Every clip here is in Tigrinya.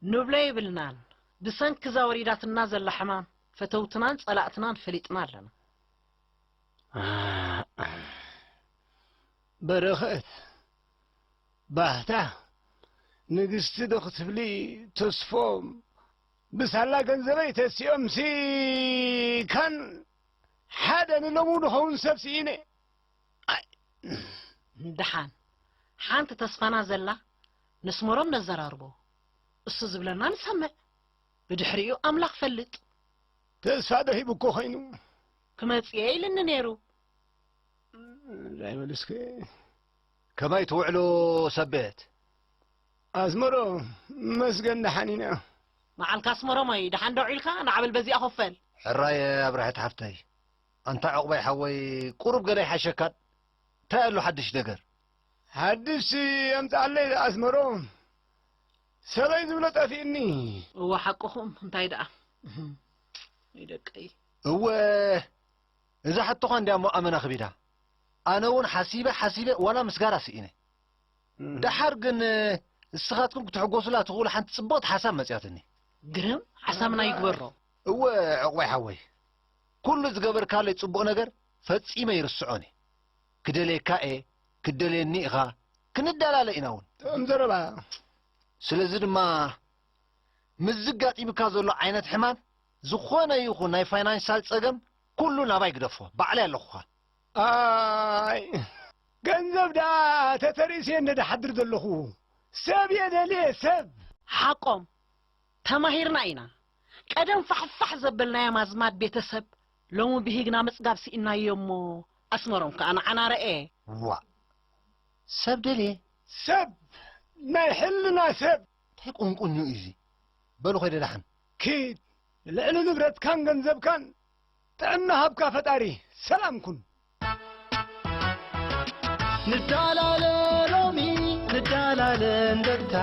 ንብሎ የብልናን ብሰንኪ እዛ ወሪዳትና ዘላ ሕማም ፈተውትናን ጸላእትናን ፈሊጥና ኣለና በረኸት ባህታ ንግስቲ ዶ ክትብሊ ተስፎ ብሳላ ገንዘበይ ተሲኦምሲ ካን ሓደ ንሎሙ ድኸውን ሰብ ስኢነ ኣይ ደሓን ሓንቲ ተስፋና ዘላ ነስመሮም ነዘራርቦ እሱ ዝብለና ንሰምዕ ብድሕሪኡ ኣምላኽ ፈልጥ ተስፋ ዶ ሂቡ እኮ ኮይኑ ክመጽኤ ኢልኒ ነይሩ ዳይ መልስከ ከመይ ትውዕሉ ሰብ ቤት። ኣስመሮም መስገን ደሓን ኢና። ንዓልካ ኣስመሮመይ ደሓን ዶ ዒልካ ናዕበል በዚኣ ኮፈል። ሕራየ ኣብርሀት ሓፍተይ ኣንታ ዑቕበይ ሓወይ ቁሩብ ገለ ኣይሓሸካን ታይ ኣሎ ሓድሽ ነገር። ሓድሽ ኣምጽኣለይ ኣስመሮም ሰበይ ዝብሎ ጠፊእኒ። እወ ሓቅኹም እንታይ ደኣ እህም ወይ ደቀይ። እወ እዛ ሕቶኻ እንድያ እሞ ኣመና ክቢዳ። ኣነ ውን ሓሲበ ሓሲበ ዋላ ምስጋራ ስኢነ። ደሓር ግን ንስኻትኩም ክትሕጎሱላ ትኽእሉ ሓንቲ ጽብቕቲ ሓሳብ መጺኣትኒ። ግርም ሓሳብና ይግበሮ። እወ ዕቑበይ ሓወይ፣ ኩሉ ዝገበርካለይ ጽቡቕ ነገር ፈጺመ ኣይርስዖን እየ። ክደልየካ እየ፣ ክትደልየኒ ኢኻ፣ ክንደላለ ኢና ውን። ጥዑም ዘረባ እያ። ስለዚ ድማ ምስዚ ኣጋጢሙካ ዘሎ ዓይነት ሕማም ዝኾነ ይኹን ናይ ፋይናንሻል ጸገም ኩሉ ናባይ ግደፎ ባዕለይ ኣለኹኻ። ኣይ ገንዘብ ደኣ ተተርእስየ እንደ ድሓድር ዘለኹ ሰብ እየ ደልየ ሰብ። ሓቆም ተማሂርና ኢና ቀደም ፋሕፋሕ ዘበልናዮም ኣዝማድ ቤተሰብ ሎሚ ብሂግና ምጽጋብ ሲኢንናዮ እሞ ኣስመሮም ከኣ ንዓና ረኤ። ዋእ ሰብ ደልየ። ሰብ ናይ ሕልና ሰብ። ታይ ቁንቁኝ እዩ እዚ በሉ ከይደ ዳሓን። ኪድ ንልዕሊ ንብረትካን ገንዘብካን ጥዕና ሃብካ ፈጣሪ ሰላም ኩን። ንዳላለ ሎሚ ንዳላለ እንደርታ።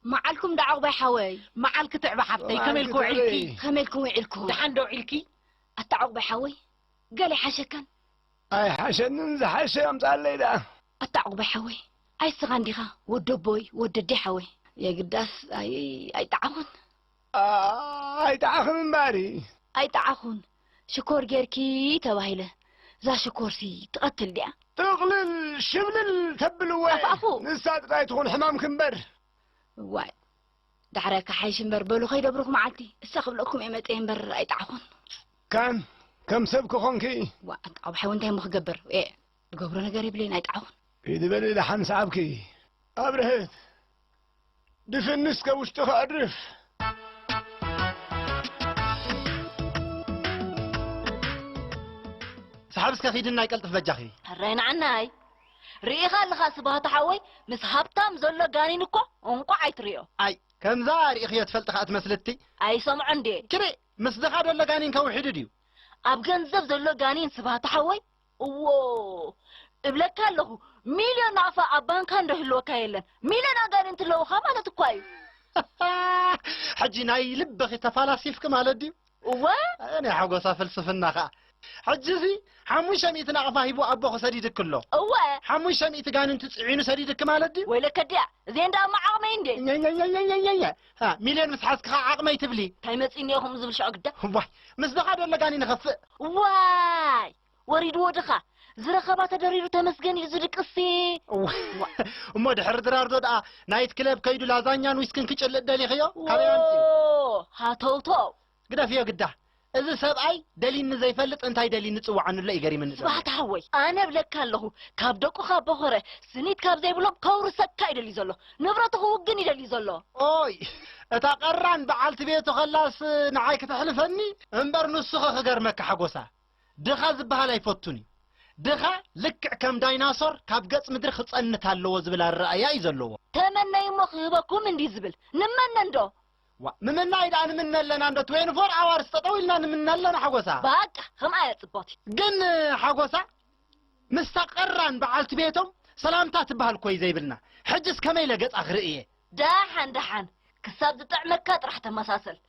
ማዓልኩም ዳኣ ዑቅባይ ሓወይ። ማዓል ክትዕበ ሓፍተይ ከመይ ኢልኪ ውዒልኪ። ከመይ ኢልኩም ዊዒልኩም። ዳሓን ዶ ዊዒልኪ። ኣታ ዑቅባይ ሓወይ ገለ ይሓሸካን። ኣይሓሸንን ዝሓሸ ኣምፀኣለይ ደኣ። ኣታ ዕቑባይ ሓወይ ኣይ እስኻ እንዲኻ ወዲ ኣቦይ ወዲ ኣደይ ሓወይ። የግዳስ ኣይ ኣይጠዓኹን። ኣይጠዓኽን እምበኣር። ኣይጠዓኹን ሽኮር ጌርኪ ተባሂለ እዛ ሽኮርሲ ትቐትል ድያ? ጥቕልል ሽብልል ተብልወ ንሳ ጥራይ ትኹን ሕማምኪ እምበር። እዋይ ዳሕራይ ክሓይሽ እምበር በሉ ከይደብርኹ መዓልቲ እሳ ክብለኩም እየ መፀየ እምበር ኣይጠዓኹን ካን ከም ሰብ ክኾንኪ ዋ ኣንታ ዓብሓይ እውን እንታይ እሞ ክገብር እየ ዝገብሮ ነገር የብለይን ኣይጠዓኹን ኢድ በሊ ደሓን ሰዓብኪ ኣብርሀት ድፍን እስከ ውሽጢ ከዕርፍ ሰሓብ እስከ ኪድና ይቀልጥፍ በጃኺ። ሕራይ ንዓናይ ሪኢኻ ኣለኻ ስብሃቱ ሓወይ ምስ ሃብታም ዘሎ ጋኒን እኮ እንቋዕ ኣይትሪኦ። ኣይ ከምዛ ሪኢኽዮ ትፈልጢ ከኣ ትመስልቲ። ኣይሰምዖን ድየ። ትሪእ ምስ ድኻ ደሎ ጋኒን ከ ውሒዱ ድዩ። ኣብ ገንዘብ ዘሎ ጋኒን ስብሃቱ ሓወይ እዎ እብለካ ኣለኹ ሚልዮን ናቕፋ ኣብ ባንካ እንዶ ይህልወካ የለን ሚልዮን ኣጋኒንቲ ኣለዉኻ ማለት እኳ እዩ። ሕጂ ናይ ልብኺ ተፋላሲፍኪ ማለት ድዩ። እወ ኣየ ናይ ሓጎሳ ፍልስፍና ከኣ። ሕጂ'ዚ ሓሙሽተ ሚእቲ ናቕፋ ሂቡ ኣቦኺ ሰዲድኪ ኣሎ። እወ። ሓሙሽተ ሚእቲ ጋንንቲ ጽዒኑ ሰዲድኪ ማለት ድዩ? ወይ ለከድያ እዚኤን ደኣ እሞ ዓቕመይ እንድየን። ኘኘኘኘኘኘ ሃ ሚልዮን ምስ ሓዝኪ ከኣ ዓቕመይ ትብሊ። ታይ መጺእኒ እየ ከምኡ ዝብል ሸዑ ግዳ። ዋይ ምስዚ ከኣ ዶ ለጋኒ ንኸፍእ። ዋይ ወሪድዎ ድኻ ዝረኸባ ተደሪሩ ተመስገን እዩ ዝድቅስሲ። እወ እሞ ድሕሪ ድራር ዶ ደኣ ናይት ክለብ ከይዱ ላዛኛን ዊስክን ክጭልጥ ደሊኽዮ ካበይ ኣምጺኡ። ዎዎ ሃተውተው። ግደፍዮ ግዳ እዚ ሰብኣይ ደሊኒ ዘይፈልጥ እንታይ ደሊኒ ጽውዓኒ ኣሎ እዩ ገሪምኒ ዘሎ። ስብሃት ሓወይ ኣነ እብለካ ኣለኹ ካብ ደቁኻ ቦኾረ ስኒት ካብ ዘይብሎም ከውርሰካ እዩ ደልዩ ዘሎ ንብረቱ ክውግን እዩ ደልዩ ዘሎ። ኦይ እታ ቀራን በዓልቲ ቤቱ ከላስ ንዓይ ክተሕልፈኒ እምበር ንሱኸ ክገርመካ ሓጎሳ። ድኻ ዝበሃል ኣይፈቱን እዩ። ድኻ ልክዕ ከም ዳይናሶር ካብ ገጽ ምድሪ ክጸንት ኣለዎ ዝብል ኣረኣእያ እዩ ዘለዎ። ተመነዩ እሞ ክህበኩም እንዲዩ ዝብል። ንመነ እንዶ! ዋእ ምምናይ ድኣ ንምነ ኣለና እንዶ ትዌኒ ፎር ኣዋርስ ጠጠው ኢልና ንምነ ኣለና ሓጎሳ። ባቃ ከምኣ እያ ጽብቕቲ። ግን ሓጎሳ ምስታ ቀራን በዓልቲ ቤቶም ሰላምታ ትበሃል እኮዩ ዘይብልና። ሕጅስ ከመይ ኢለ ገጻ ክርእዬ። ደሓን ደሓን ክሳብ ዝጥዕመካ ጥራሕ ተመሳሰል።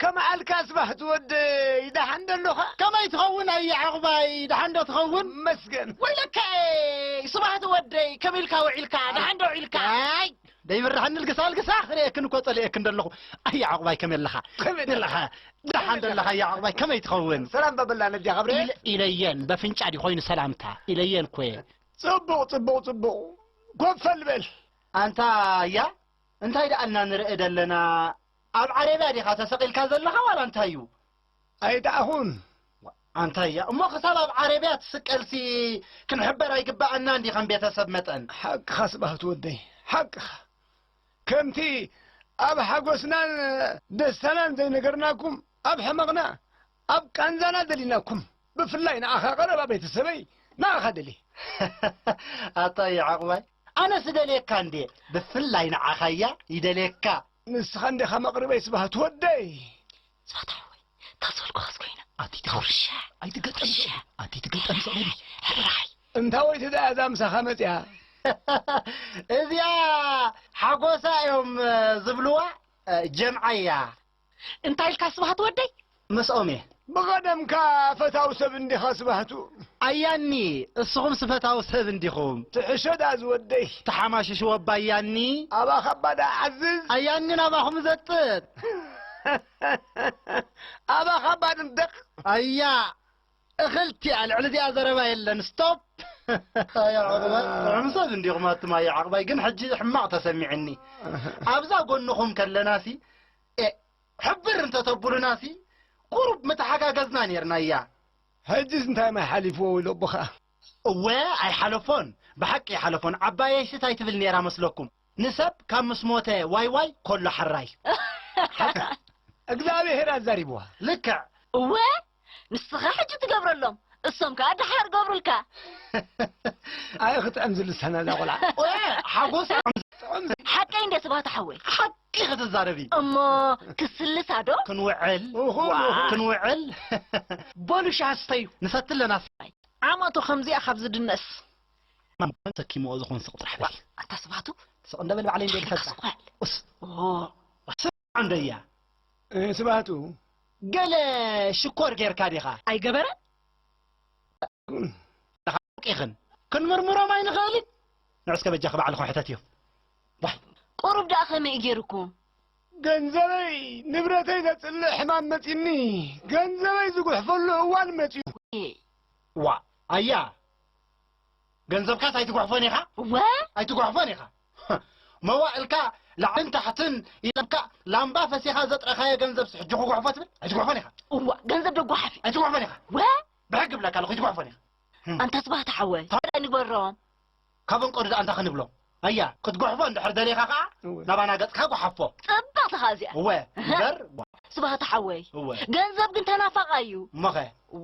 ከመዓልካስ ባህ ዝወደይ ደሓን ዶ ኣሎኻ። ከመይ ትኸውን ኣየ ዕቕባይ ደሓን ዶ ትኸውን። እመስገን ወይለከ'የ ስባህ ዝወደይ ከመይ ኢልካ ውዒልካ ደሓን ዶ ውዒልካ። ኣይ ደይብርሃኒ ልግሳ ልግሳ ክርእየክን እኮ ጸሊኤክን ደለኹ ኣየ ዕቕባይ ከመይ ኣለኻ። ከመይ ደለኻ ደሓን ዶ ኣለኻ ኣየ ዕቕባይ ከመይ ትኸውን። ሰላም በበላ ነዲኣ ኸብረ። ኢል ኢለየን በፍንጫ ድዩ ኮይኑ ሰላምታ ኢለየን እኮ'የ። ጽቡቕ ጽቡቕ ጽቡቕ ኮፈል በል። ኣንታ ኣያ እንታይ ደኣልና ንርኢ ደለና ኣብ ዓረብያ ዲኻ ተሰቂልካ ዘለኻ ዋላ እንታይ እዩ? ኣይደኣኹን። ኣንታይ እያ እሞ ክሳብ ኣብ ዓረብያ ትስቀልሲ ክንሕበር ኣይግበኣናን ድዩ ከም ቤተሰብ መጠን? ሓቅኻ ስብሃቱ ወደይ ሓቅኻ ከምቲ ኣብ ሓጎስናን ደስታናን ዘይነገርናኩም ኣብ ሕመቕና ኣብ ቃንዛና ደሊናኩም ብፍላይ ንኣኻ ቀረባ ቤተሰበይ ንኣኻ ደልየ። ሃሃሃ ኣታ እዩ ዕቕባይ ኣነስ እደልየካ እንድየ ብፍላይ ንዓኻ እያ ይደልየካ። ንስኻ እንዲኻ መቕርበይ ስብሃት ወደይ። ስብሃት ሓወይ እታ ዝበልኩኻስ ኮይና ኣቲ ትገርምሻ ኣቲ ትገርምሻ ኣቲ ትገርምሻ ኣቲ ትገርምሻ ሕራይ እንታወይቲ ድኣ እዛ ምሳኻ መጺኣ። እዚኣ ሓጎሳ እዮም ዝብልዋ ጀምዓ እያ። እንታይ ኢልካ ስብሃት ወደይ? ምስኦም እየ። ብቐደምካ ፈታው ሰብ እንዲኻ ስባህቱ። ኣያኒ እስኹምስ ፈታው ሰብ እንዲኹም። ትሕሾ ድኣ ዝወደይ። ተሓማሽሽዎ እባ ኣያኒ። ኣባኻ እባ ድኣ ዓዝዝ። ኣያን ግን ኣባኹም እዘጥጥ። ኣባኻ እባ ድንደቕ። ኣያ! እኽልቲ ኣብ ልዕሊ እዚኣ ዘረባ የለን ስቶፕ። ኣያ ዕቑባይ ጥዑም ሰብ እንዲኹም ኣቱም ኣያ ዕቑባይ ግን ሕጂ ሕማቕ ተሰሚዕኒ ኣብዛ ጎንኹም ከለናሲ ኤእ ሕብር እንተ ተቡሉናሲ ቁሩብ ምተሓጋገዝና ኔርና ኣያ። ሕጂስ እንታይ ማይ ሓሊፍዎ ወይ ሎቦ ከኣ። እወ ኣይሓለፎን ብሓቂ ኣይሓለፎን ዓባየይሲ ታይ ትብል ኔራ መስለኩም ንሰብ ካብ ምስ ሞተ ዋይ ዋይ ኮሎ ሓራይ። ሓቂ እግዚኣብሄር ኣዛሪብዋ። ልክዕ። እወ ንስኻ ሕጂ ትገብረሎም እሶም ከኣ ደሓር ገብሩልካ። ኣየ ክጥዕም ዝልሳና እዛ ቆልዓ ኦየ ሓጎሳ ጥዑም ዘይ ሓቀይ እንድያ ስብሃት ሓወይ። ሓቂ ክትዛረቢ። እሞ ክስልሳ ዶ? ክንውዕል ኡኹ ኡኹ ክንውዕል። በሉ ሻሂ ስተዩ ንሰቲ ኣለና ስ። ዓመቱ ከምዚኣ ካብ ዝድነስ። ማን ሰኪምዎ ዝኹን ስቕ ጥራሕ በሊ። ኣታ ስብሃቱ ስቕ እንደ በል ባዕለይ እንድየ ድፈልጣ። ኡስ። ዓንደያ ስብሃቱ ገለ ሽኮር ጌርካ ዲኻ? ኣይገበረን። ሓቂኽን ክንምርምሮም ኣይንኽእልን። ንዑስከ በጃኺ ባዕልኹ ሕተትዮ። ዋይ ቁሩብ ደኣ ከመይ እዩ ጌሩኩም? ገንዘበይ ንብረተይ ዘጽልእ ሕማም መጺኒ ገንዘበይ ዝጉሕፈሉ እዋን መጺኡ። ዋ ኣያ ገንዘብካስ ኣይትጉሕፎን ኢኻ? እወ! ኣይትጉሕፎን ኢኻ። መዋእልካ ላዕልን ታሕትን ኢለካ ላምባ ፈሲኻ ዘጥረኻዮ ገንዘብስ ሕጂ ክጉሕፎ ትብል? ኣይትጉሕፎን ኢኻ። እወ! ገንዘብ ዶ ጓሓፍ እዩ? ኣይትጉሕፎን ኢኻ። እወ! ብሕጊ እብለካ ኣለኹ ኣይትጉሕፎን ኢኻ። ኣንታ ስብሃት ሓወይ፣ እንታይ ንግበሮም? ካብ እንቆዱ ደኣ እንታይ ክንብሎም? ኣያ ክትጉሕፎ እንድሕር ደሊኻ ከኣ ናባና ገጽካ ጉሓፎ። ጽብቅቲ ከኣ እዚኣ። እወ እበር። ስብሃት ሓወይ እወ። ገንዘብ ግን ተናፋቂ ኣዩ። እሞኸ።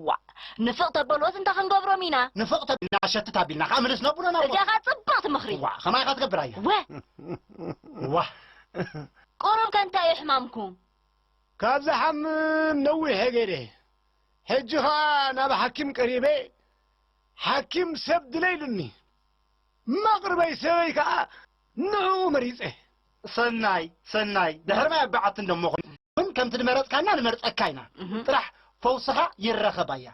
ዋእ ንፍቅ ተበልዎስ እንታይ ክንገብሮም ኢና። ንፍቅ ተቢልና ሸትት ኣቢልና ከኣ ምልስ ነብሎ ናብ። እዚኣ ከኣ ጽብቅቲ ምኽሪ። ዋእ ከማይ ኢኻ ትገብር ኣያ። እወ። ዋእ። ቁሩብ ከ እንታይ እዩ ሕማምኩም። ካብ ዝሓምም ነዊሕ እየ ገይረ ሕጂ ከኣ ናብ ሓኪም ቀሪበ ሓኪም ሰብ ድለ ኢሉኒ። መቕርበይ ሰበይ ከኣ ንዕኡ መሪጸ። ሰናይ ሰናይ ድሕሪ ማይ ኣብ በዓቲ እንዶ እሞ ኹን ከምቲ ድመረጽካና ንመርጸካ ኢና ጥራሕ ፈውስኻ ይረኸብ ኣያ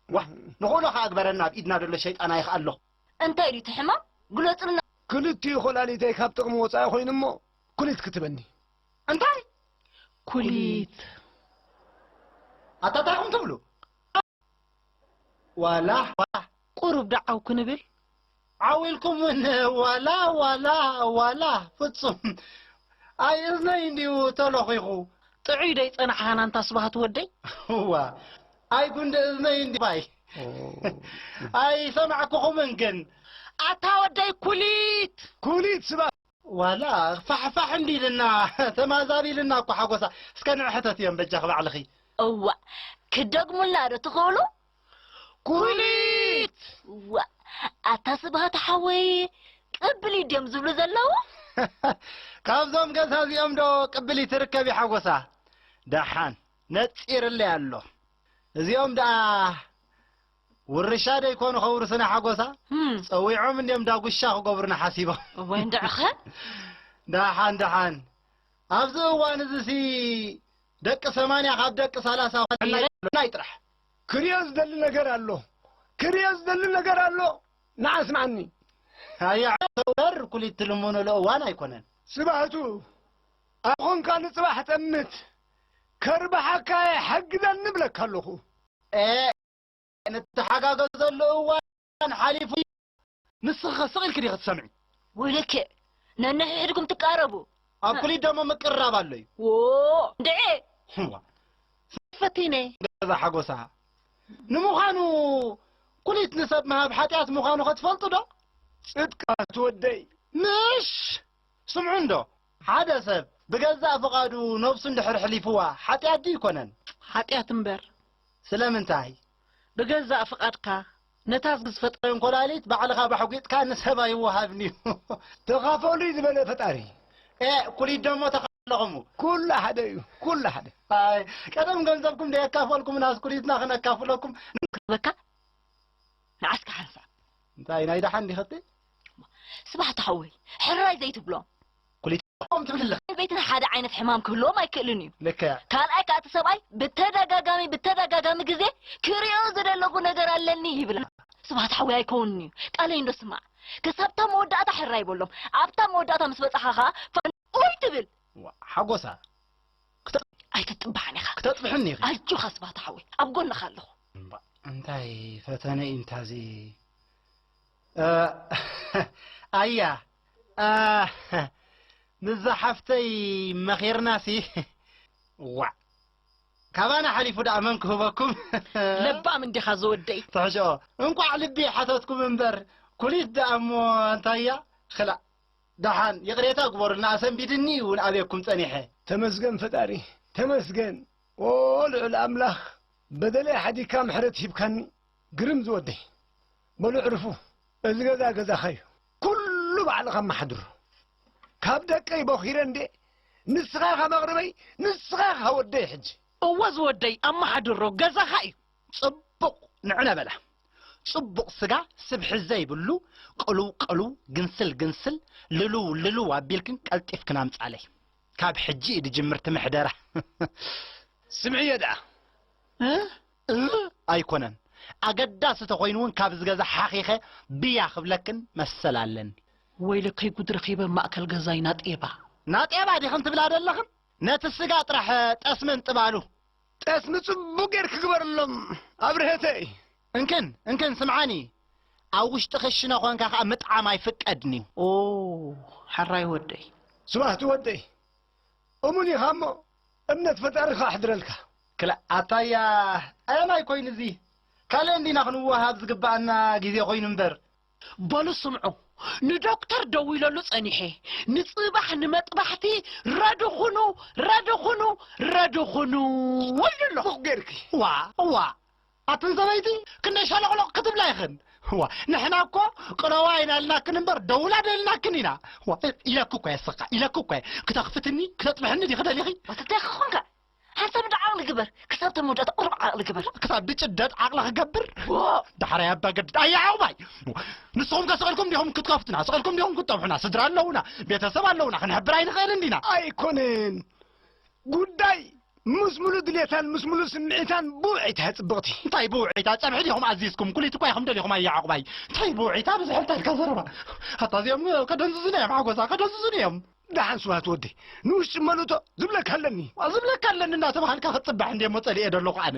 ዋእ ንኽእሎ ኸኣ ግበረና ኣብ ኢድና ደሎ ሸይጣን ኣይኽኣሎ። እንታይ ድዩ እቲ ሕማም ግለጹልና። ክልቲኡ ኮላሊተይ ካብ ጥቅሚ ወጻኢ ኮይኑ እሞ ኩሊት ክትበኒ። እንታይ ኩሊት? ኣታ ታይ ኢኩም ትብሉ? ዋላ ዋላ ቁሩብ ዶ ዓው ክንብል። ዓው ኢልኩም ውን ዋላ ዋላ ዋላ ፍጹም ኣይ እዝነይ እንድዩ ተሎኺኹ። ጥዑይ ዶ ይጸናሕኻና ኣንታ ስብሃቱ ወደይ። እዋ ኣይ ጉንዲ እዝነይ እንድዩ ባይ ኣይሰማዕኩኹምን ግን። ኣታ ወደይ ኩሊት። ኩሊት ስብሃት ዋላ ፋሕፋሕ እንዲልና ተማዛቢልና እኮ ሓጎሳ እስከ ንዕ ሕተትዮም በጃኺ ባዕልኺ። እዋእ ክደግሙልና ዶ ትኽእሉ? ኩሊት! እዋእ ኣታ ስብሃት ሓወይ ቅብሊት ድዮም ዝብሉ ዘለዉ? ካብዞም ገዛ እዚኦም ዶ ቅብሊት ትርከብ እዩ ሓጎሳ? ደሓን ነጺርለይ ኣሎ እዚኦም ደኣ ውርሻ ደይኮኑ ከውርስና ሓጎሳ ጸዊዖም እንድዮም ዳጉሻ ክገብሩና ሓሲቦም። እወ እንድዕኸ። ደሓን ደሓን ኣብዚ እዋን እዚሲ ደቂ ሰማንያ ካብ ደቂ ሰላሳ ናይ ጥራሕ። ክሪኦ ዝደሊ ነገር ኣሎ ክሪኦ ዝደሊ ነገር ኣሎ ንዓ ኣስምዓኒ። ኣያዕ ተወር ኩሊት ትልምኑሉ እዋን ኣይኮነን። ስባህቱ ኣብ ኾንካ ንጽባሕ ጠምት ከርብሓካ የሐግዘኒ እብለካ ኣለኹ። ኤእ እንተሓጋገዘሉ እዋን ሓሊፉ ንስኺኸ ስቕ ኢልኪ ዲኺ ትሰምዒ ውይ ልክዕ ነንሕሕድኩም ትቃረቡ ኣብ ኩሊት ደሞ ምቅርራብ ኣሎ እዩ ዎ ድዔ ሕዋ ፈቲነ ገዛ ሓጎሳ ንምዃኑ ኩሊት ንሰብ ምሃብ ሓጢኣት ምዃኑ ከትፈልጡ ዶ ጽድቃት ወደይ ምሽ ስምዑ እንዶ ሓደ ሰብ ብገዛእ ፍቓዱ ነብሱ እንድሕር ኅሊፍዋ ኃጢኣት ድዩ ኣይኮነን? ኃጢኣት እምበር። ስለምንታይ? ብገዛእ ፍቓድካ ነታ ዝፈጠ። እንኮላሊት ባዕልኻ ባሕጒጥካ ንሰብ ኣይወሃብን'ዩ። ተኻፈሉይ ዝበለ ፈጣሪ። ኤእ ኩሊት ደሞ ተኻፈለኹሙ። ኩሉ ሓደ እዩ ኩሉ ሓደ። ኣይ ቀደም ገንዘብኩም ደየካፈልኩምናስ ኩሊትና ክነካፍለኩም። ንረኽበካ ንዓስካ ሓንሳብ። እንታይ ናይ ደሓን ዲኽ'ቲ? ስብሓት ሓወይ ሕራይ ዘይትብሎም ክልቲኦም ትብል ኣለኻ። ሰበይትን ሓደ ዓይነት ሕማም ክህልዎም ኣይክእልን እዩ። ልክዕ። ካልኣይ ከዓ እቲ ሰብኣይ ብተደጋጋሚ ብተደጋጋሚ ግዜ ክሪኦ ዝደለኹ ነገር ኣለኒ ይብላ። ስብሓት ሓወይ ኣይከውንን እዩ ቃለይ እንዶ ስማዕ ክሳብታ መወዳእታ ሕራይ በሎም ኣብታ መወዳእታ ምስ በፃኻ ከዓ ፋን ኡይ ትብል ዋእ ሓጎሳ ኣይትጥባሕን ኢኻ ክተጥብሕኒ ኢኺ። ኣጆኻ ስብሓት ሓወይ ኣብ ጎንኻ ኣለኹ። እምባእ እንታይ ፈተነ እዩ እንታዚ ኣያ ኣህ ምስዛ ሓፍተይ መኺርናሲ ዋዕ ካባና ሓሊፉ ደኣ መን ክህበኩም ለባም እንዲኻ ዝወደይ ትሕሽኦ እንቋዕ ልቢ ሓተትኩም እምበር ኩሊት ደኣ እሞ እንታያ ክላእ ደሓን ይቕሬታ ግበሩልና ኣሰንቢድኒ እውን ኣበኩም ጸኒሐ ተመስገን ፈጣሪ ተመስገን ኦ ልዑል ኣምላኽ በደለይ ሓዲግካ ምሕረት ሂብካኒ ግርም ዝወደይ በሉ ዕርፉ እዚ ገዛ ገዛኻ እዩ ኩሉ ባዕልኻ ኣማሓድሮ ካብ ደቀይ ቦኺረ እንዴ ንስኻ ኢኻ መቕርበይ ንስኻ ኢኻ ወደይ ሕጂ እወ ዝወደይ ኣማሓድሮ ገዛኻ እዩ። ጽቡቕ ንዕነ በላ ጽቡቕ ስጋ ስብሒ ዘይብሉ ቅሉው ቅሉው ግንስል ግንስል ልሉው ልሉው ኣቢልክን ቀልጢፍክን ኣምጻለይ ካብ ሕጂ እዩ ድጅምርቲ ምሕደራ ስምዕዮ ደኣ እ እህ ኣይኮነን ኣገዳሲ ተኮይኑ ውን ካብዚ ገዛ ሓኺኸ ብያ ክብለክን መሰል ኣለኒ። ወይለከይ ጉድ ረኺበ ኣብ ማእከል ገዛይ ናጤባ። ናጤባ ዲኽን ትብላ ደለኽን ነቲ ስጋ ጥራሕ ጠስሚ እንጥባሉ። ጠስሚ ጽቡቅ ጌርኪ ግበርሎም ኣብርሀተይ። እንክን እንክን ስምዓኒ ኣብ ውሽጢ ክሽነ ኮንካ ከኣ ምጥዓም ኣይፍቀድን'ዩ። ኦው ሐራይ ወደይ። ስብኣህቱ ወደይ እሙን ኢኻ እሞ እምነት ፈጣሪ ክኣሕድረልካ። ክላእ ኣታያ ኣያናይ ኮይኑ እዚ ካልእ እንዲና ክንወሃሃብ ዝግበኣና ግዜ ኮይኑ እምበር። በሉ ስምዑ ንዶክተር ደዊለሉ ጸኒሐ ንጽባሕ ንመጥባሕቲ ረዲ ኩኑ ረዲ ኩኑ ረዲ ኩኑ ኢሉ ኣሎ። ቡቕ ጌርኪ ዋእ ዋእ። ኣቱም ሰበይቲ ክንደይ ሸሎቅሎቅ ክትብላ ኢኽን ዋእ ንሕና እኮ ቅረዋ ኢና ኢልናክን እምበር ደውላ ዶ ኢልናክን ኢና ዋእ ኢለኪ እኮ እየ ስኻ ኢለኪ እኮ እየ ክተኽፍትኒ ክተጥብሕኒ ዲኺ ደሊኺ ወተታይ ክኾንካ ሓንሳብ እንዳ ዓቕሊ ግበር ክሳብ እታ መወዳእታ ቁሩብ ዓቕሊ ግበር ክሳብ ብጭደት ዓቕሊ ክገብር ዳሕራይ ኣባ ገድድ ኣየ ዓቕባይ ንስኹም ከ ስቕልኩም ዲኹም ክትከፍቱና ስቕልኩም ዲኹም ክትጠብሑና ስድራ ኣለውና ቤተሰብ ኣለውና ክንሕብር ኣይንኽእልን ዲና ኣይኮነን ጉዳይ ምስ ሙሉ ድሌታን ምስ ሙሉ ስምዒታን ብውዒታ እያ ጽብቕቲ እንታይ ብውዒታ ጸብሒ ዲኹም ኣዚዝኩም ኩሊት እኳ ኢኹም ደሊኹም ኣያ ዕቑባይ እንታይ ብውዒታ ብዝሕ እንታይ ኢልካ ዘረባ ኣታ እዚኦም ከደንዝዙኒ እዮም ሓጎሳ ከደንዝዙኒ እዮም ደሓን ስብሃት ወዲ ንውሽጢ መሉቶ ዝብለካ ኣለኒ ዝብለካ ኣለኒ እናተባሃልካ ክትጽባሕ እንዴ እሞ ጸሊኤ ደለኹ ኣነ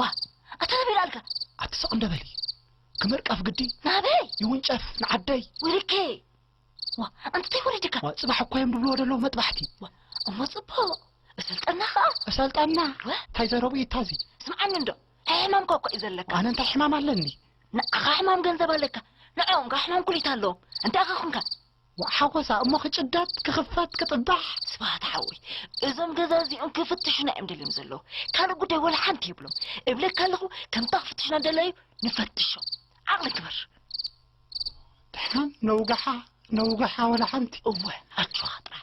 ዋ ኣታ ናበይ ልኣልካ ኣቲ ሰቕ እንደበሊ ክመርቀፍ ግዲ ናበይ ይውንጨፍ ንዓደይ ውርኬ ዋ ኣንትተይ ወሪድካ ዋ ጽባሕ እኳ እዮም ድብልዎ ደለዉ መጥባሕቲ ዋ እሞ ጽቡቕ እሰልጠና ኸኣ እሰልጠና እንታይ ዘረቡ እዩ እታዚ ስምዓኒ እንዶ ሕሕማምካ እኳ እዩ ዘለካ ኣነ እንታይ ሕማም ኣለኒ ንዓኻ ሕማም ገንዘብ ኣለካ ንዕኦም ከ ሕማም ኩሊት ኣለዎም እንታይ ኸ ኹንካ ዋእ ሓጎሳ እሞ ክጭደድ ክኽፈት ክጥባሕ። ስብሃት ሓወይ እዞም ገዛ እዚኦም ክፍትሹና እዮም ደልዮም ዘለዉ ካልእ ጉዳይ ወላ ሓንቲ የብሎም እብለካ ኣለኹ ከምታ ክፍትሹና ደላዩ ንፈትሾ ዓቕሊ ግበር ንሕናም ነውግሓ ነውግሓ ወላ ሓንቲ እወ ኣጆኻ ጥራሕ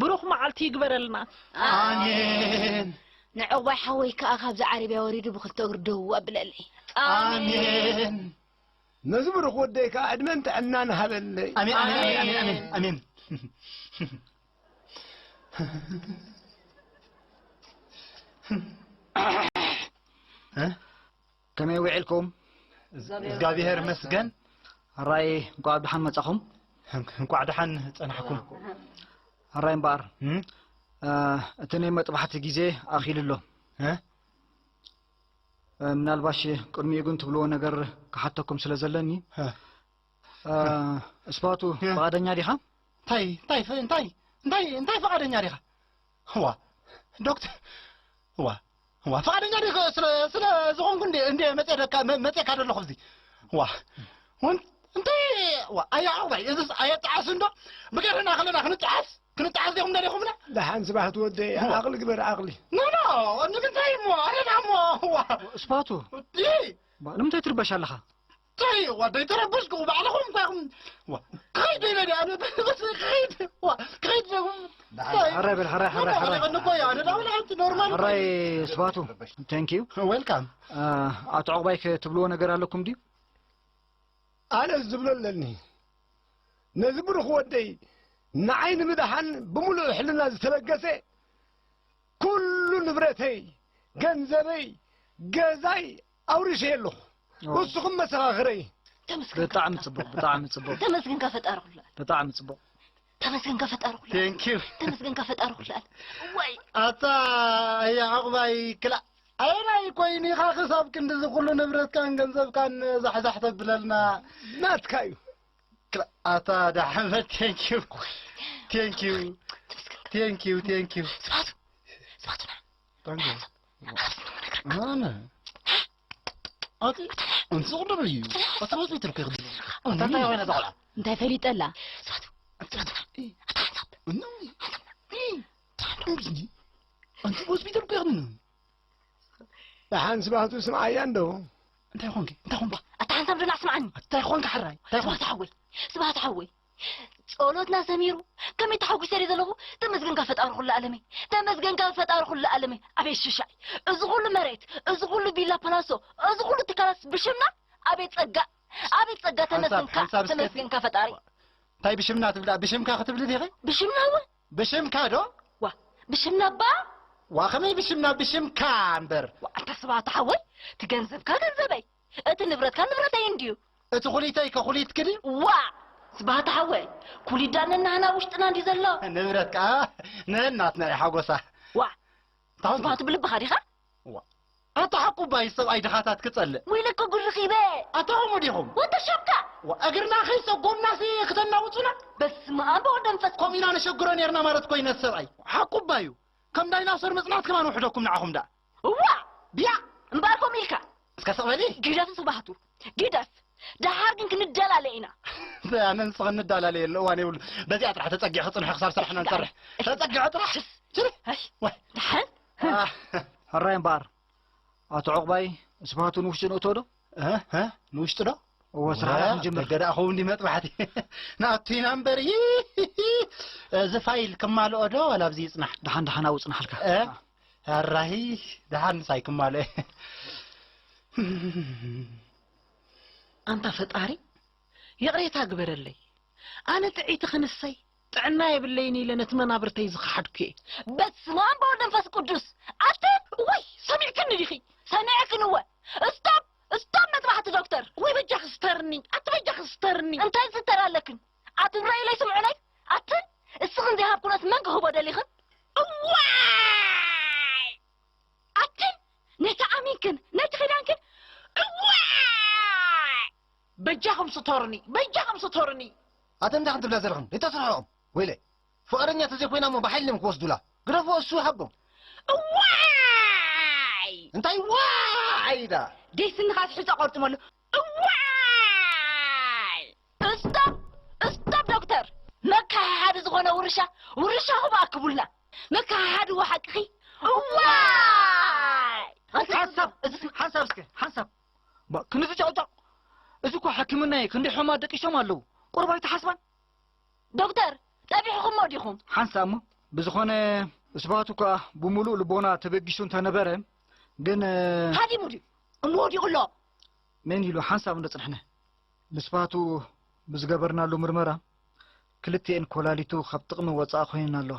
ብሩኽ መዓልቲ ይግበረልና። ኣሜን። ንዕቕባይ ሓወይ ክኣ ካብዚ ዓረብያ ወሪዱ ብኽልተ እግሩ ደው ኣብለለይ። ኣሜን። ነዚ ብሩኽ ወደይ ክኣ ዕድመን ጥዕናን ሃበለይ። ኣሜን ኣሜን ኣሜን ኣሜን ኣሜን ኣሜን። ከመይ ዊዕልኩም? እዝጋብሄር ይመስገን። ኣራይ እንቋዕ ብደሓን መጻኹም። እንቋዕ ደሓን ጸናሕኩም። ኣራይ እምበኣር እቲ ናይ መጥባሕቲ ግዜ ኣኺሉ ኣሎ። ምናልባሽ ቅድሚኡ ግን ትብልዎ ነገር ክሓተኩም ስለ ዘለኒ እስባቱ ፍቓደኛ ዲኻ? እንታይ እንታይ እንታይ እንታይ እንታይ ፍቓደኛ ዲኻ? እዋ ዶክተር እዋ እዋ ፍቓደኛ ዲ ስለ ስለ ዝኾንኩ እንዴ እንዴ መጼ ደካ መጼካ ደለኹ እዚ እዋ ውን እንታይ እዋ ኣያ ዓባይ እዝስ ኣየጣዓስ እንዶ ብገርህና ከለና ክንጣዓስ ክንጣዓስ ዲኹም ደሊኹምና ደሓን ስባሕት ወደ ዓቕሊ ግበር ዓቕሊ ኖኖ ንምንታይ እሞ ኣረና እሞ እዋ ስባቱ ዲ ንምንታይ ትርበሽ ኣለኻ ታይ እዋ ዘይተረበሽኩ ባዕልኹም እኳ ኢኹም እዋ ክኸይድ ዶ ኢለ ድኣ ኣነ ተረበሰ ክኸይድ እዋ ክኸይድ ዘኹም ሕራይ በል ሕራይ ሕራይ ሕራይ ቀኒ እኮ እዩ ኣነ ዳኣ ወላሓንቲ ኖርማል ሕራይ ስባቱ ታንክ ዩ ዌልካም ኣቶ ዕቑባይ ክትብልዎ ነገር ኣለኩም ድዩ ኣነ ዝብሎ ኣለኒ ነዚ ብሩኽ ወደይ ንዓይ ንምድሓን ብምሉእ ሕልና ዝተበገሰ ኩሉ ንብረተይ ገንዘበይ ገዛይ ኣውሪሸ ኣለኹ ንስኹም መሰኻኽረይ ተመስገን ብጣዕሚ ጽቡቅ ብጣዕሚ ጽቡቅ ተመስገን ከፈጣሪ ኩሉ ኣል ብጣዕሚ ጽቡቅ ተመስገን ከፈጣሪ ኩሉ ቴንክ ዩ ተመስገን ከፈጣሪ ኩሉ ኣል ወይ ኣታ ኣያ ዕቁባይ ክላእ ኣየናይ ኮይኑ ኢኻ ክሳብ ክንዲዚ ኩሉ ንብረትካን ገንዘብካን ዛሕዛሕ ተብለልና ናትካ እዩ ክላእ ኣታ ዳሕመት ቴንክ ዩ ቴንክ ዩ ተመስገን ቴንክ ዩ ቴንክ ዩ ስባቱ ስባቱና እንታይ ገይሩ ኣነ ኣቲ እንሱ ቅድም እዩ ኣቲ ወፂ ትርከ ክድለ ኣታ እንታይ ኮይነ እዛ ቆልዓ እንታይ ፈሊጠላ ስራቱ ስራቱ እኖ እምስኒ ኣንቲ ሆስፒታል እኮ ይኽድኑ ብሓን ስባቱ ስምዓያ እንዶ እንታይ ኾንኪ እንታይ ኾንኪ ኣታ ሓንሳብ ዶላ ስምዓኒ እንታይ ኾንኪ ሓራይ እንታይ ኾንኪ ሓወይ ስብሃት ሓወይ ጸሎትና ሰሚሩ ከመይ ተሓጒሰ ድየ ዘለኹ ተመስገንካ ፈጣሪ ኩሉ ኣለመይ ተመስገንካ ፈጣሪ ኩሉ ኣለመይ ኣቤት ሽሻይ እዚ ኩሉ መሬት እዚ ኩሉ ቢላ ፓላሶ እዚ ኩሉ ትካላት ብሽምና ኣቤት ጸጋ ኣቤት ጸጋ ተመስገንካ ሓንሳብ እስከ- ተመስገንካ ፈጣሪ እንታይ ብሽምና ትብሊ ብሽምካ ክትብሊ ዲኺ ብሽምና እውን ብሽምካ ዶ ዋ ብሽምና እባ ዋ ከመይ ብሽምና ብሽምካ እምበር ዋ ኣታ ስብሓት ሓወይ ትገንዘብካ ገንዘበይ እቲ ንብረትካ ንብረተይ እንድዩ። እቲ ኩሊተይ ከ ኩሊትኪ ድዩ? ዋእ! ስብሃት ሓወይ፣ ኩሊት ድኣ ነናህና ኣብ ውሽጥና እንድዩ ዘሎ። ንብረት ከኣ ነናትና'ዩ ሓጎሳ። ዋእ! እንታይ ኾንኪ? ስብሃቱ ብልብኻ ዲኻ? ዋእ! ኣታ ሓቁባይ ሰብኣይ ድኻታት ክጸልእ። ወይለከ ጉድ ረኺበ! ኣታ ከምኡ ዲኹም? ወዲ ሸምካ! ዋእ! እግርና ከይጸጎምናሲ ክተናውጹና? በስመኣም ብወልድ መንፈስ ቅዱስ! ከምኡ ኢና ነሸግሮ ኔርና ማለት ኮይነ ሰብኣይ። ሓቁባ'ዩ። ከም ዳይናሶር ምጽናት ከማን ውሕደኩም ንዓኹም ድኣ። እዋእ ብያቕ እምበኣር ከምኡ ኢልካ። እስከ ስቕ በሊ። ግደፍ ስብሃቱ ግደፍ ደሓር ግን ክንደላለ ኢና። እንታይ ኣነ ንስኽን ንደላለየሉ እዋን የብሉን። በዚኣ ጥራሕ ተጸጊዕኺ ጽንሒ ክሳብ ስራሕና ንሰርሕ። ተጸጊዐ ጥራሕ ችሪ ወይ ደሓን። ሕራይ እምበኣር ኣቶ ዑቕባይ ስብሃቱ ንውሽጢ ነእትዎ ዶ? እህ ንውሽጢ ዶ እዎ ስራሕና ክንጅምር ደገ ደኣ ክውን መጥባሕቲ ናቱ ኢና እምበር እዚ ፋይል ክማልኦ ዶ ዋላ ኣብዚ ይፅናሕ ደሓን ደሓን ኣብኡ ፅናሓልካ ኣራሂ ደሓን ንሳይ ክማልኦ ኣንታ ፈጣሪ ይቕሬታ ግበረለይ ኣነ ጥዒቲ ክንሰይ ጥዕና የብለይን ኢለ ነቲ መናብርተይ ዝኸሓድኩ'የ። በስመ ኣም በወልድ መንፈስ ቁዱስ ኣትን እዋይ ሰሚዕክኒ ዲኺ ሰሚዐክን እወ እስቶብ እስቶብ መጥባሕቲ ዶክተር ወይ በጃኺ ስተርኒ ኣቲ በጃኺ ስተርኒ እንታይ ዝስተር ኣለክን ኣትን ረእዩለይ ስምዑለይ ኣትን እስኽን ዘይሃብ ኩነት መን ክህቦ ደሊኽን እዋይ ኣትን ነቲ ኣሚንክን ነቲ ኺዳንክን እዋይ በጃኹም ስቶሩኒ በጃኹም ስቶሩኒ። ኣተን እንታይ ክትብላ ዘለኽን ሪቶ ስርሕኦም ወይለ ፍቃደኛ ተዘይኮይና እሞ ብሓይሊ ድዮም ክወስዱላ ግደፍዎ እሱ ይሃቦም። እዋይ። እንታይ ዋይ ኢላ። ደይ ስንኻ ስሒቶ ቆርጥመሉ እዋይ። እስቶፕ እስቶፕ ዶክተር መከሓሓዲ ዝኾነ ውርሻ ውርሻኹም ኣክቡልና መከሓሓዲ እዎ ሓቅኺ እዋይ። ሓንሳብ እዚ ሓንሳብ እስከ ሓንሳብ ባእ ክንዚ ጨቕጫቕ እዚ እኮ ሕክምና እየ ክንደይ ሕሙማት ደቂሶም ኣለዉ ቁሩብ ኣይትሓስባን ዶክተር ጸቢሕኹሞ ዲኹም ሓንሳእ እሞ ብዝኾነ ስብሃት እኳ ብምሉእ ልቦና ተበጊሱ እንተነበረ ግን ሃዲሙ ድዩ እሞ ወዲቑ ኣሎ መን ኢሉ ሓንሳብ እንደጽንሕነ ንስብሃቱ ብዝገበርናሉ ምርመራ ክልቲኤን ኮላሊቱ ካብ ጥቕሚ ወጻእ ኮይነን ኣለዋ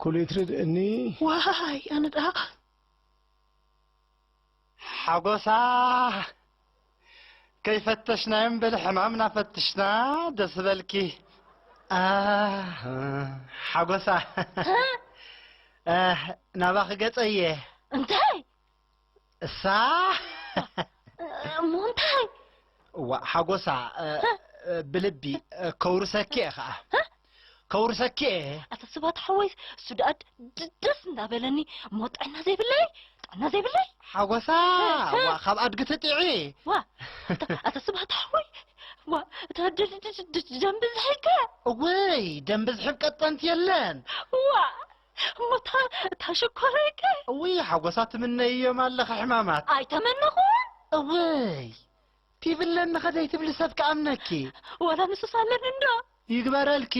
ኩሊትርድ እኒ። ዋይ ኣነ ደኣ። ሓጎሳ ከይፈተሽናዮም በሊ ሕማምና ፈትሽና ደስ በልኪ ኣህ ሓጎሳ ኣህ ናባኺ ገጸ እየ። እንታይ እሳ እሞ እንታይ እዋእ ሓጎሳ ብልቢ ከውርሰኪ እየ ከዓ ከውርሰኪ እየ ኣታ ስባት ሓወይ እሱ ደኣ ደስ እንዳበለኒ እሞ ጥዕና ዘይብለይ ጥዕና ዘይብለይ ሓጎሳ ዋ ካብ ኣድጊ ትጥዒ ዋ ኣታ ስባት ሓወይ ዋ እታ ደም ብዝሕከ እወይ ደም ብዝሕብ ቀጠንቲ የለን ዋ እሞ እታ እታ ሽኮረይ ከ? እውይ ሓጎሳ ትምነይዮም ኣለኺ ሕማማት። ኣይተመነኹን። እውይ ቲቪ ኣለኒ ከደይ ትብሊ ሰብ ክኣምነኪ። ወላ ንሱስ ኣለኒ እንዶ። ይግበረልኪ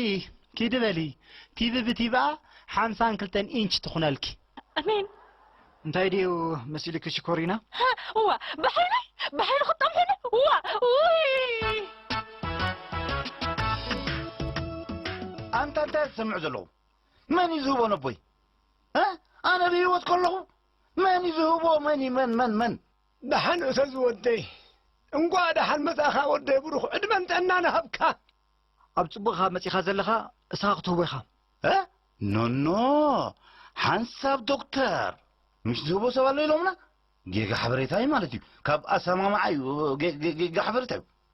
ኪዲ በሊ ቲቪ ብቲቪኣ ሓምሳን ክልተን ኢንች ትኹነልኪ። ኣሜን። እንታይ ድዩ መሲሉኪ ሽኮሪና? እዋ ብሓይለይ ብሓይሊ ክጠምሒኒ እዋ ውይ ኣንታ እንታይ ዝሰምዑ ዘለዉ መን እዩ ዝህቦ ነቦይ እ ኣነ ብህይወት ከለኹ መን እዩ ዝህቦ መን እዩ መን መን መን ደሓን እተዝ ወደይ እንቋዕ ደሓን መጻኻ ወደይ ብሩኽ ዕድመን ጥዕናን እሃብካ። ኣብ ጽቡቅ ኢካ መጺካ ዘለካ እስካ ክትህቦ ኢካ እ ኖኖ ሓንሳብ ዶክተር ምሽ ዝህቦ ሰብ ኣሎ ኢሎምና ጌጋ ሓበሬታ እዩ ማለት እዩ ካብ ኣሰማምዓ እዩ ጌጋ ሓበሬታ እዩ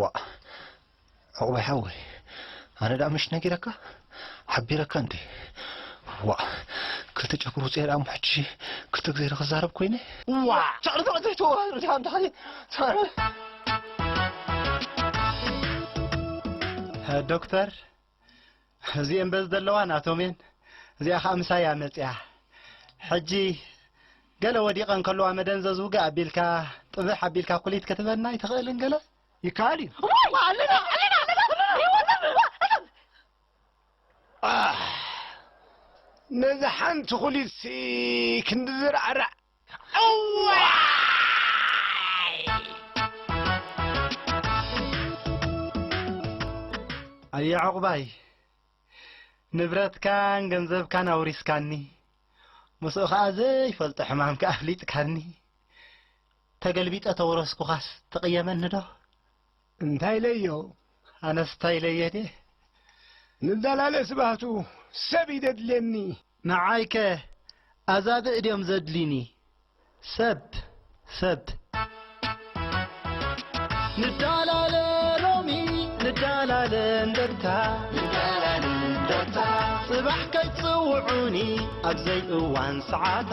ዋእ ዑቕባይ ሓወይ ኣነ ደኣ ምሽ ነጊረካ ሓቢረካ እንዴ ዋእ ክልተ ጨጉሩ ውጽኤ ደኣ እሞ ሕጂ ክልተ ግዜ ዶ ክዛረብ ኮይነ ዋእ ጨቕሪ ጨቕሪ ዘይትዋሃር ዲኻ እንዳ ሓየ ዶክተር እዚኤን በዚ ዘለዋ ናቶም እየን እዚኣ ከኣ ምሳይ እያ መጺኣ ሕጂ ገለ ወዲቀን ከለዋ መደንዘዝ ውግእ ኣቢልካ ጥብሕ ኣቢልካ ኩሊት ክትበና ኣይትኽእልን ገለ ይከኣል እዩ ኣለና ኣለና ነዚ ሓንቲ ኩሊት ክንዲ ዝራዕራዕ ኣየ ዑቕባይ ንብረትካን ገንዘብካን ኣውሪስካኒ ምስኡ ኸኣ ዘይፈልጦ ሕማምካ ኣፍሊጥካኒ ተገልቢጠ ተውረስኩኻስ ትቕየመኒ ዶ እንታይ ኢለዮ ኣነስ እንታይ ኢለዮ ድየ ንዳላለ ስብሃቱ ሰብ እዩ ደድልየኒ። ንዓይከ ኣዛብእ ድዮም ዘድልዩኒ ሰብ ሰብ። ንዳላለ ሎሚ ንዳላለ እንደርታ። ጽባሕ ከይትጽውዑኒ ኣብዘይ እዋን ሰዓታ።